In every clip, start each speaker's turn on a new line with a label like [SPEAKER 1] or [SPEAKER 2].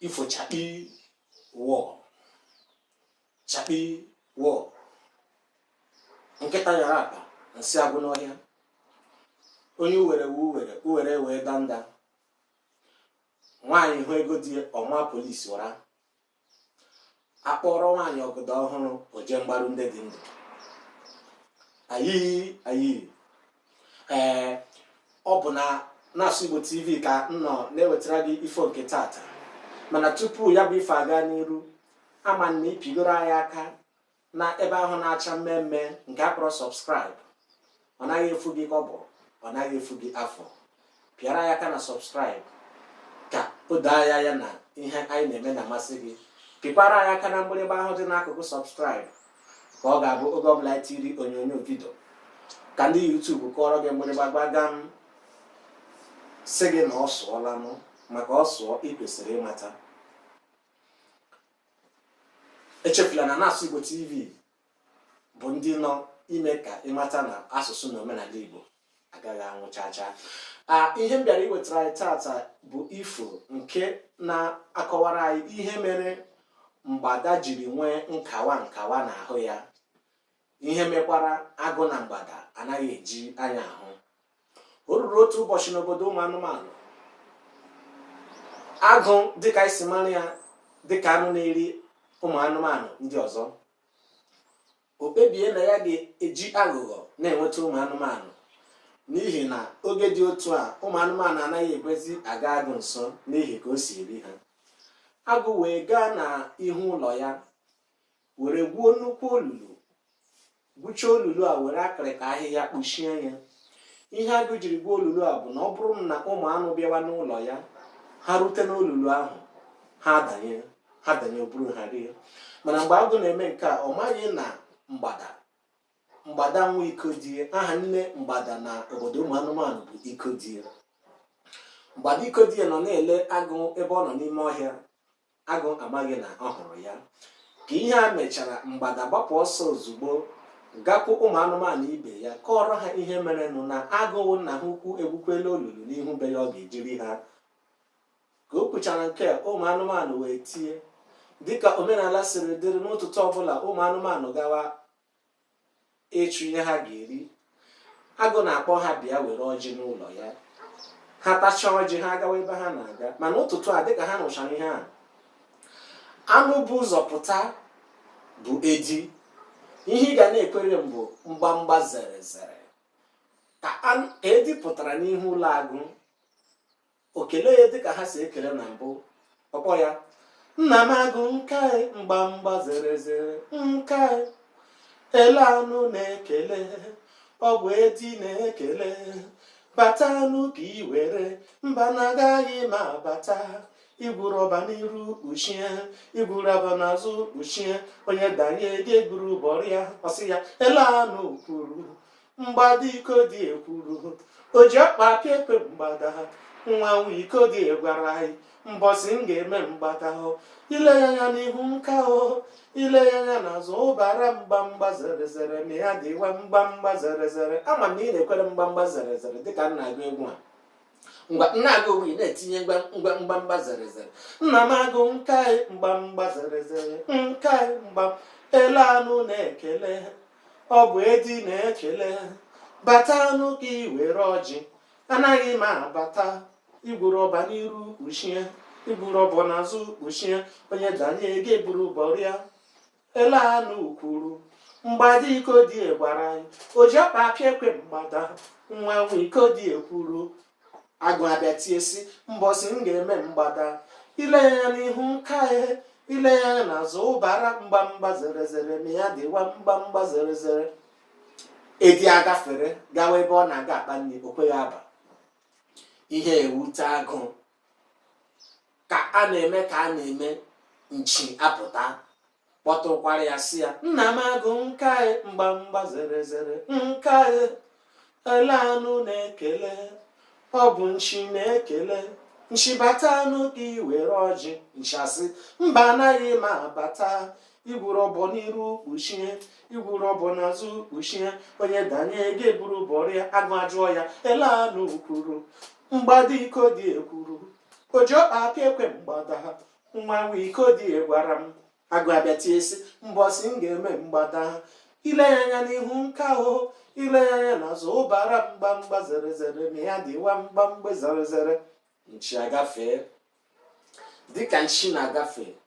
[SPEAKER 1] ifo chakpi wọ chakpi wọ nkịta nyara akpa nsị agwụ n'ọhịa onye uwere wu uwere uwere wee danda nwaanyị hụ ego di ọ maa polisi ụra a kpọọrọ nwaanyị ọgọdọ ọhụrụ o je mgbaru ndị dị ndụ ayi ayi ee ọ bụ na na-asụ igbo tv ka m nọ na-ewetara gị ifo nke tata mana tupu ya bụ ife aga n'iru ama m na ị pịgoro anyị aka na ebe ahụ na-acha mmee mmee nke a kpọrọ subscribe ọ naghị efu gị kọbọ ọ naghị efu gị afụ pịara anyị aka na subscribe ka o doo anyị anya na ihe anyị na-eme na-amasị gị pịkwara anyị aka na mgbịrịgba ahụ dị n'akụkụ subscribe ka ọ ga-abụ oge ọbụla anyị tiri onyonyo vidio ka ndị YouTube kụọrọ gị mgbịrịgba gbagam sị gị na ọ sụọla nụ maka ọ sụọ ị kwesịrị ịmata echefula na na-asụ Igbo TV bụ ndị nọ ime ka ị mata na asụsụ na omenala Igbo agaghị anwụ chaa chaa ihe m bịara iwetara anyị tata bụ ifo nke na-akọwara anyị ihe mere mgbada jiri nwee nkawa nkawa n'ahụ ya ihe mekwara agụ na mgbada anaghị eji anya ahụ o ruru otu ụbọchị n'obodo ụmụ anụmanụ agụ dịka e si mara ya dịka anụ na-eri ụmụ anụmanụ ndị ọzọ o kpebie na ya ga-eji aghụghọ na-enweta ụmụ anụmanụ n'ihi na oge dị otu a ụmụ anụmanụ anaghị ekwezi aga agụ nso n'ihi ka o si eri ha agụ wee gaa n'ihu ụlọ ya were gwuo nnukwu olulu gwuchaa olulu a were akịrịka ahịhịa kpuchie ya ihe agụ jiri gwuo olulu a bụ na ọ bụrụ na ụmụ anụ bịawa n'ụlọ ya ha rute n'olulu ahụ ha adanye ha danye o buru ha rie mana mgbe agụ na-eme nke a ọ maghị na mgbada mgbada nwa ikodie aha nne mgbada na obodo ụmụ anụmanụ bụ ikodie mgbada ikodie nọ na-ele agụ ebe ọ nọ n'ime ọhịa agụ amaghị na ọ hụrụ ya ka ihe a mechara mgbada gbapụ ọsọ ozugbo gakwu ụmụ anụmanụ ibe ya kọọrọ ha ihe merenụ na agụ bụ nna ha ukwu egwukwala olulu n'ihu be ya ọ ga-eji eri ha ka o kwuchara nke a, ụmụ anụmanụ wee tie dịka omenala siri dịrị n'ụtụtụ ọbụla ụmụ anụmanụ gawa ịchụ ihe ha ga-eri agụ na-akpọ ha bịa were ọjị n'ụlọ ya ha tachaa ọjị ha agawa ebe ha na-aga mana ụtụtụ a dịka ha nụchara ihe a anụ bu ụzọ pụta bụ edi ihe ị ga na-ekwere m bụ mgbamgba zere zere ka edi pụtara n'ihu ụlọ agụ o kelee ya dịka ha si ekele na mbụ ọ kpọọ ya nna m agụ nka anyị mgbamgba zere zere nka anyị ele anụ na-ekele ọ bụ edi na-ekele bata nụ ka i were mba na agaghị m abata igwuru ọbọ n'iru kpuchie igwuru ọbọ n'azụ kpuchie onye danye gị eburu bọrịa ọ sị ya ele anụ kwuru mgbada ikodie kwuru o ji ọkpa apịa ekwe mgbada ha nwa nwa ikodie gwara anyị mbọsị m ga-eme mgbada hụ ile ya anya n'ihu nka hụ ile ya anya n'azụ ụbara mgbamgba zere zere ma ya dịwa mgbamgba zere zere ama m na ị na-ekwere mgbamgba zere zere dịka m na-agụ egwu a ngwa m na-agụ ị na-etinye mgbamgba zere zere nna m agụ nka anyị mgbamgba zere zere nka anyị mgba ele anụ na-ekele ọ bụ edi na-ekele bata nụ ka i were ọjị anaghị m abata igwuru ọbọ n'iru kpuchie igwuru ọbọ n'azụ kpuchie onye danye gị eburu bọrịa Ele anụ kwuru mgbada ikodie gwara anyị o ji ọkpa apịa ekwe mgbada nwa nwa ikodie kwuru agụ abịa tie sị mbọsị m ga-eme mgbada ile ya anya n'ihu nka hụ ile ya anya n'azụ ụbara mgbamgba zere zere ma ya dịwa mgbamgba zere zere edi agafere gawa ebe ọ na-aga akpa nri o kweghị aba ihe ewute agụ ka a na-eme ka a na-eme nchi apụta kpọtụkwara ya sị ya nna m agụ nka mgbamgba zere zere nka ele anụ na-ekele ọ bụ nchi na-ekele nchi bata nụ gị were ọjị nchi asị mba anaghị m abata igwuru ọbọ n'iru kpuchie igwuru ọbọ n'azụ kpuchie onye danye gị eburu bọrịa agụ ajụọ ya ele anụ kwuru mgbada ikodie kwuru o ji ọkpa aka ekwe mgbada ha nwa nwa ikodie gwara m agụ abịa tie sị mbọsị m ga-eme mgbada ha ile ya anya n'ihu nka ahụ ile ya anya n'azụ ụbara mgbamgba zere zere ma ya dịwa mgbamgba zere zere nchi agafee dịka nchi na-agafe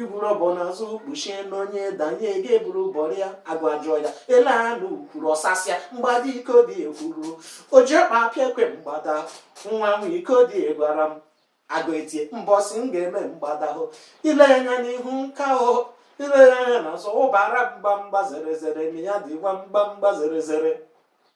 [SPEAKER 1] igwuru ọbọ n'azụ kpuchie na onye danye gị eburu bọrịa agụ ajụọ ya ele anụ kwuru ọsa sị ya mgbada ikodie kwuru o ji ọkpa apịa ekwe mgbada nwa nwa ikodie gwara m agụ etie mbọsị m ga-eme mgbada hụ ile ya anya n'ihu nka hụ ile ya anya n'azụ ụbara mgbamgba zere zere ma ya dịwa mgbamgba zere zere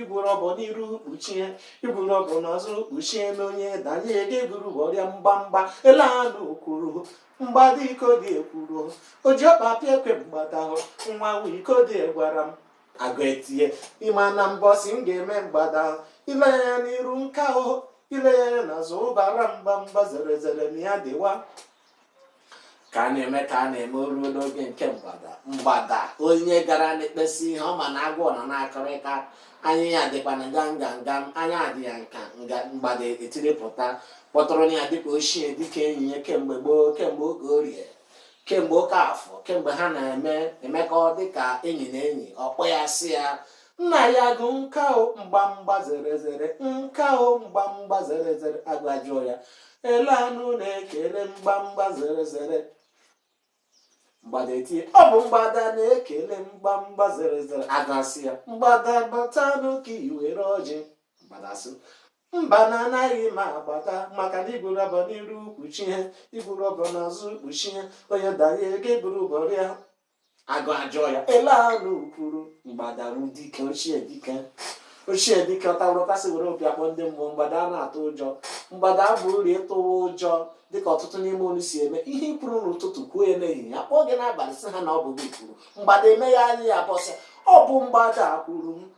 [SPEAKER 1] igwuru ọbọ n'iru kpuchie igwuru ọbọ n'azụ kpuchie na onye danye gị eburu bọrie ya mgbamgba ele anụ kwuru mgbada iko dị ekwuru o ji ọkpa pịa ekwe mgbada nwa nwa iko dị gwara m agụ etie ịma na mbọsị m ga-eme mgbada ile ya n'iru nka o ile ya n'azụ ọbara mgbamgba zere zere na ya dịwa ka a na-eme ka a na-eme o ruo n'oge nke mgbada mgbada onye gara n'ikpe si ihe ọ ma na agụ nọ na-akọrịta anya ya dịkwa na gam gam gam anya adị ya nka mgbada etiripụta kpọtụrụ ya dịka ochie dịka enyi ya kemgbe gboo kemgbe oke orie kemgbe oke afọ kemgbe ha na-eme emekọ dịka enyi na enyi ọ kpọọ ya sị ya nna ya agụ nka o mgbamgba zere zere nka o mgbamgba zere zere agụ ajụọ ya ele anụ na-ekele mgbamgba zere zere mgbada etie ọ bụ mgbada na-ekele mgbamgba zere zere agụ asị ya mgbada batanụ ka i were ọjị mgbada sị mba na anaghị m abata maka na igwuru ọbọ n'iru kpuchie igwuru ọbọ n'azụ kpuchie onye danye gị eburu bọrie ya agụ ajụọ ya ele anụ kwuru mgbada ru dike ochie dike ochie dike ọtawụrụtasị were opi akpọ ndị mmụọ mgbada a na-atụ ụjọ mgbada abụ uri ịtụwa ụjọ dịka ọtụtụ n'ime unu si eme ihe i kwuru n'ụtụtụ kwuo ya n'ehihie akpọọ gị n'abalị sị ha na ọ bụ gị kwuru mgbada eme ya anya ya bọọ sị ọ bụ mgbada kwuru m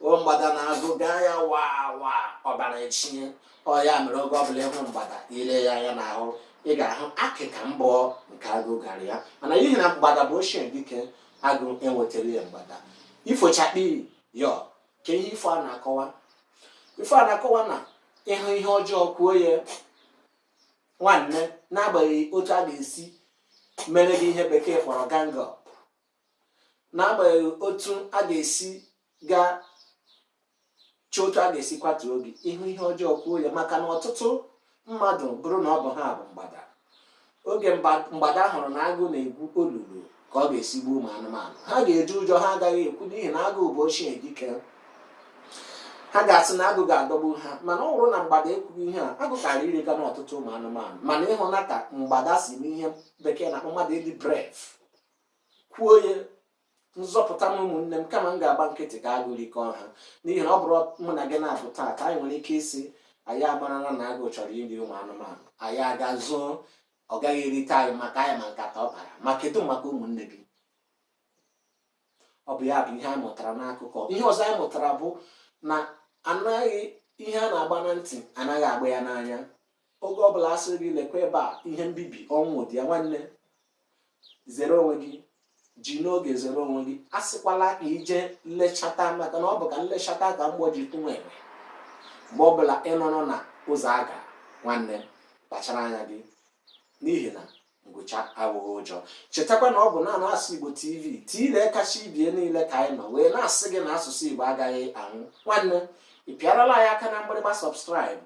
[SPEAKER 1] o mgbada na agụ gaa ya waa waa ọbara echinye ọ ya mere oge ọbụla ịhụ mgbada ile ya anya n'ahụ ị ga-ahụ akịka mbọ nke agụ gara ya mana n'ihi na mgbada bụ ochie dike agụ enwetara ya mgbada ifo chakpii yọọ kee ihe ifo a na-akọwa ifo a na-akọwa na ịhụ ihe ọjọọ kwuo ya nwanne n'agbanyeghị otu a ga-esi mere gị ihe bekee kpọrọ gang up n'agbanyeghị otu a ga-esi gaa chọọ otu a ga-esi kwatuo gị ịhụ ihe ọjọọ kwuo ya maka na ọtụtụ mmadụ bụrụ na ọ bụ ha bụ mgbada oge mgba- mgbada hụrụ na agụ na-egwu olulu ka ọ ga-esi gbuo ụmụ anụmanụ ha ga-eji ụjọ ha agaghị ekwu n'ihi na agụ bụ ochie dike ha ga-asị na agụ ga-adọgbu ha mana ọ bụrụ na mgbada ekwughị ihe a agụ kara irega n'ọtụtụ ụmụ anụmanụ mana ịhụna ka mgbada si n'ihe bekee na-akpọ mmadụ ịdị brave kwuo ya nzọpụta m ụmụnne m kama m ga-agba nkịtị ka agụ rikọọ ha n'ihi na ọ bụrụ mụ na gị na-abụ taa ka anyị nwere ike ịsị anyị amarala na agụ chọrọ iri ụmụ anụmanụ anyị aga zoo ọ gaghị erite anyị maka anyị ma nkata ọ kpara ma kedu maka ụmụnne gị ọ bụ ya bụ ihe anyị mụtara n'akụkọ ihe ọzọ anyị mụtara bụ na anaghị ihe a na-agba na ntị anaghị agba ya n'anya oge ọbụla a sị gị lekwa ebe a ihe mbibi ọnwụ dị ya nwanne zere onwe gị ji n'oge zere onwe gị asịkwala ka i je nlechata maka na ọ bụ ka m lechata ka mgbọ ji tụ nwa enwe mgbe ọbụla ị nọrọ na ụzọ aga nwanne kpachara anya gị n'ihi na ngwụcha abụghị ụjọ chetakwa na ọ bụ na na-asụ igbo tv tiile kacha ibie niile ka anyị nọ wee na-asị gị na asụsụ igbo agaghị anwụ nwanne ị pịarala anyị aka na mgbịrịgba subscribe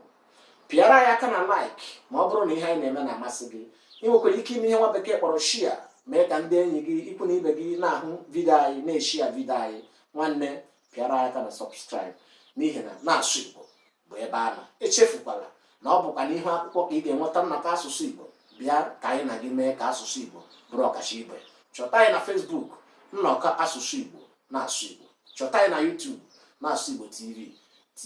[SPEAKER 1] pịara anyị aka na like ma ọ bụrụ na ihe anyị na-eme na-amasị gị ị nwekwara ike ime ihe nwa bekee kpọrọ share mee ka ndị enyi gị ikwu na ibe gị na-ahụ vidio anyị na-eshia vidio anyị nwanne pịara anyị aka na subscribe n'ihi na na-asụ igbo bụ ebe a nọ echefukwala na ọ bụkwa n'ihu akwụkwọ ka ị ga-enweta nnọkọ asụsụ Igbo bịa ka anyị na gị mee ka asụsụ Igbo bụrụ ọkacha ibe chọta anyị na Facebook nnọkọ asụsụ Igbo na-asụ Igbo chọta anyị na YouTube na-asụ Igbo TV